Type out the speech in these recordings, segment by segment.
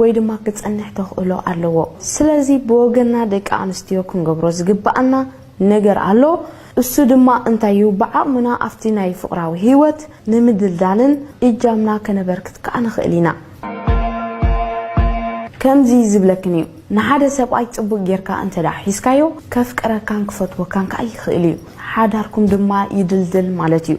ወይ ድማ ክጸንሕ ተኽእሎ ኣለዎ። ስለዚ ብወገንና ደቂ ኣንስትዮ ክንገብሮ ዝግብኣና ነገር ኣሎ። እሱ ድማ እንታይ እዩ ብዓቕምና ኣብቲ ናይ ፍቕራዊ ህይወት ንምድልዳልን እጃምና ከነበርክት ከኣ ንኽእል ኢና። ከምዚ ዝብለክን እዩ ንሓደ ሰብኣይ ጽቡቕ ጌርካ እንተድኣ ሒዝካዮ ከፍቅረካን ክፈትወካን ከኣ ይኽእል እዩ። ሓዳርኩም ድማ ይድልድል ማለት እዩ።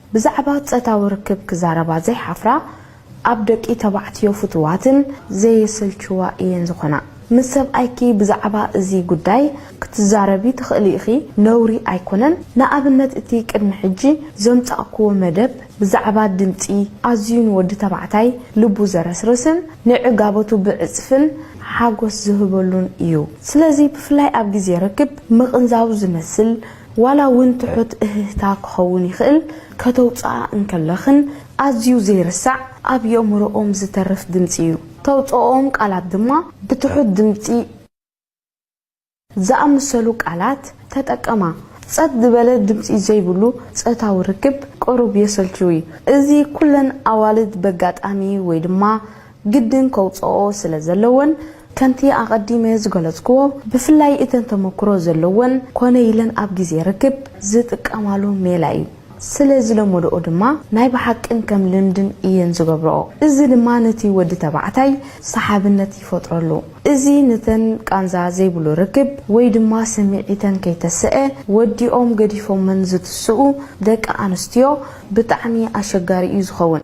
ብዛዕባ ጸታዊ ርክብ ክዛረባ ዘይሓፍራ ኣብ ደቂ ተባዕትዮ ፍቱዋትን ዘየሰልችዋ ኢየን ዝኾና። ምስ ሰብኣይኪ ብዛዕባ እዚ ጉዳይ ክትዛረቢ ትኽእሊ ኢኺ ነውሪ ኣይኮነን። ንኣብነት እቲ ቅድሚ ሕጂ ዘምጻእክዎ መደብ ብዛዕባ ድምጺ ኣዝዩ ንወዲ ተባዕታይ ልቡ ዘረስርስን ንዕጋበቱ ብዕጽፍን ሓጎስ ዝህበሉን ኢዩ። ስለዚ ብፍላይ ኣብ ግዜ ርክብ ምቕንዛው ዝመስል ዋላ እውን ትሑት እህህታ ክኸውን ይኽእል፣ ከተውጽኣ እንከለኽን ኣዝዩ ዘይርሳዕ ኣብ የእምሮኦም ዝተርፍ ድምጺ እዩ። ተውጽኦኦም ቃላት ድማ ብትሑት ድምጺ። ዝኣመሰሉ ቃላት ተጠቀማ። ጸጥ ዝበለ ድምጺ ዘይብሉ ጾታዊ ርክብ ቅሩብ የሰልቹ እዩ። እዚ ኩለን ኣዋልድ በጋጣሚ ወይ ድማ ግድን ከውጽኣኦ ስለ ዘለወን ከምቲ ኣቐዲመ ዝገለጽኩዎ ብፍላይ እተን ተመክሮ ዘለወን ኮነ ኢለን ኣብ ግዜ ርክብ ዝጥቀማሉ ሜላ እዩ። ስለ ዝለመድኦ ድማ ናይ ብሓቅን ከም ልምድን እየን ዝገብርኦ። እዚ ድማ ነቲ ወዲ ተባዕታይ ሰሓብነት ይፈጥረሉ። እዚ ነተን ቃንዛ ዘይብሉ ርክብ ወይ ድማ ስምዒተን ከይተሰኤ ወዲኦም ገዲፎመን ዝትስኡ ደቂ ኣንስትዮ ብጣዕሚ ኣሸጋሪ እዩ ዝኸውን።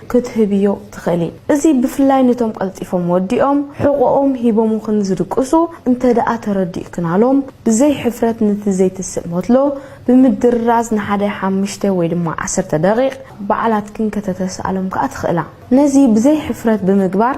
ክትህብዮ ትኽእሊ። እዚ ብፍላይ ንቶም ቀልጢፎም ወዲኦም ሕቖኦም ሂቦሙክን ዝድቅሱ እንተደኣ ተረዲእክናሎም፣ ብዘይ ሕፍረት ነቲ ዘይትስእ ሞትሎ ብምድርራዝ ንሓደ ሓምሽተ ወይ ድማ ዓሰርተ ደቒቕ ባዕላትክን ከተተስኣሎም ከኣ ትኽእላ። ነዚ ብዘይ ሕፍረት ብምግባር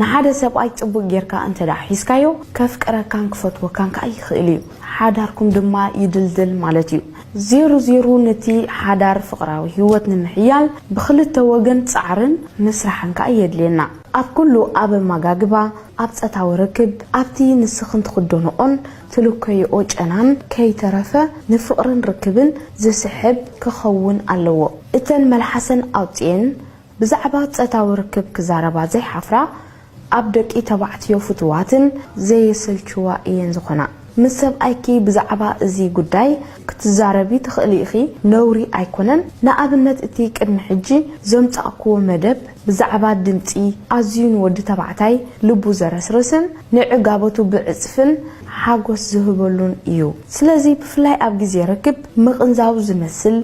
ንሓደ ሰብኣይ ጽቡቕ ጌርካ እንተ ሒዝካዮ፣ ከፍቅረካን ክፈትወካን ከኣ ይኽእል እዩ። ሓዳርኩም ድማ ይድልድል ማለት እዩ። ዜሩ ዜሩ ነቲ ሓዳር ፍቕራዊ ህይወት ንምሕያል ብኽልተ ወገን ጻዕርን ምስራሕን ከኣ የድልየና። ኣብ ኩሉ ኣብ ኣመጋግባ፣ ኣብ ጸታዊ ርክብ፣ ኣብቲ ንስኽን ትኽደንኦን ትልከይኦ ጨናን ከይተረፈ ንፍቕርን ርክብን ዝስሕብ ክኸውን ኣለዎ። እተን መልሓሰን ኣውጺኤን፣ ብዛዕባ ጸታዊ ርክብ ክዛረባ ዘይሓፍራ ኣብ ደቂ ተባዕትዮ ፍቱዋትን ዘየሰልችዋ ኢየን ዝኾና። ምስ ሰብኣይኪ ብዛዕባ እዚ ጉዳይ ክትዛረቢ ትኽእሊ ኢኺ ነውሪ ኣይኮነን። ንኣብነት እቲ ቅድሚ ሕጂ ዘምጻእክዎ መደብ ብዛዕባ ድምጺ ኣዝዩ ንወዲ ተባዕታይ ልቡ ዘረስርስን ንዕጋበቱ ብዕጽፍን ሓጎስ ዝህበሉን ኢዩ። ስለዚ ብፍላይ ኣብ ግዜ ርክብ ምቕንዛው ዝመስል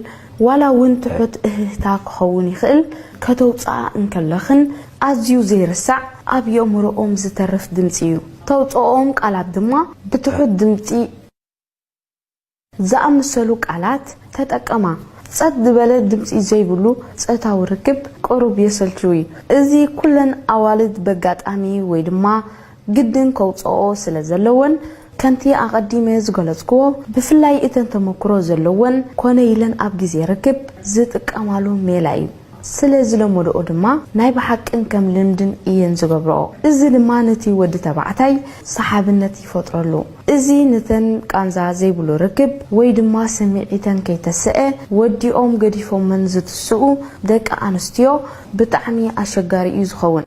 ዋላ ውን ትሑት እህህታ ክኸውን ይኽእል፣ ከተውጽኣ እንከለኽን ኣዝዩ ዘይርሳዕ ኣብ የእምሮኦም ዝተርፍ ድምጺ እዩ። ተውጽኦኦም ቃላት ድማ ብትሑት ድምጺ። ዝኣመሰሉ ቃላት ተጠቀማ። ጸጥ ዝበለ ድምጺ ዘይብሉ ጸታዊ ርክብ ቅሩብ የሰልችው እዩ። እዚ ኩለን ኣዋልድ በጋጣሚ ወይ ድማ ግድን ከውጽኣኦ ስለ ዘለወን ከምቲ ኣቐዲመ ዝገለጽኩዎ ብፍላይ እተን ተመኩሮ ዘለወን ኮነ ኢለን ኣብ ግዜ ርክብ ዝጥቀማሉ ሜላ እዩ። ስለ ዝለመድኦ ድማ ናይ ብሓቅን ከም ልምድን እየን ዝገብርኦ። እዚ ድማ ነቲ ወዲ ተባዕታይ ሰሓብነት ይፈጥረሉ። እዚ ነተን ቃንዛ ዘይብሉ ርክብ ወይ ድማ ስምዒተን ከይተሰኤ ወዲኦም ገዲፎመን ዝትስኡ ደቂ ኣንስትዮ ብጣዕሚ ኣሸጋሪ እዩ ዝኸውን።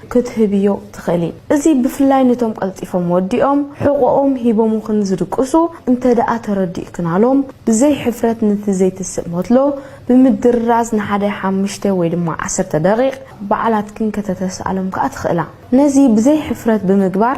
ክትህብዮ ትኽእሊ። እዚ ብፍላይ ንቶም ቀልጢፎም ወዲኦም ሕቖኦም ሂቦሙክን ዝድቅሱ እንተድኣ ተረዲእክናሎም ብዘይ ሕፍረት ነቲ ዘይትስእ ሞትሎ ብምድርራዝ ንሓደ ሓምሽተ ወይ ድማ ዓሰርተ ደቒቕ ባዕላትክን ከተተስኣሎም ከኣ ትኽእላ። ነዚ ብዘይ ሕፍረት ብምግባር፣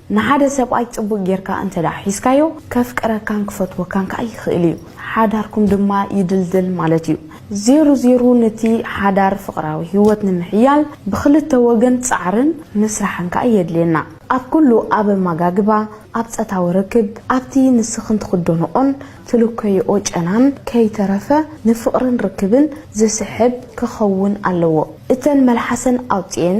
ንሓደ ሰብኣይ ጽቡቕ ጌርካ እንተ ደኣ ሒዝካዮ፣ ከፍቅረካን ክፈትወካን ከኣ ይኽእል እዩ። ሓዳርኩም ድማ ይድልድል ማለት እዩ። ዜሩ ዜሩ ነቲ ሓዳር ፍቕራዊ ህይወት ንምሕያል ብኽልተ ወገን ጻዕርን ምስራሕን ከኣ የድልየና። ኣብ ኩሉ ኣብ ኣመጋግባ፣ ኣብ ጸታዊ ርክብ፣ ኣብቲ ንስኽን ትኽደንኦን ትልከይኦ ጨናን ከይተረፈ ንፍቕርን ርክብን ዝስሕብ ክኸውን ኣለዎ። እተን መልሓሰን ኣውጺኤን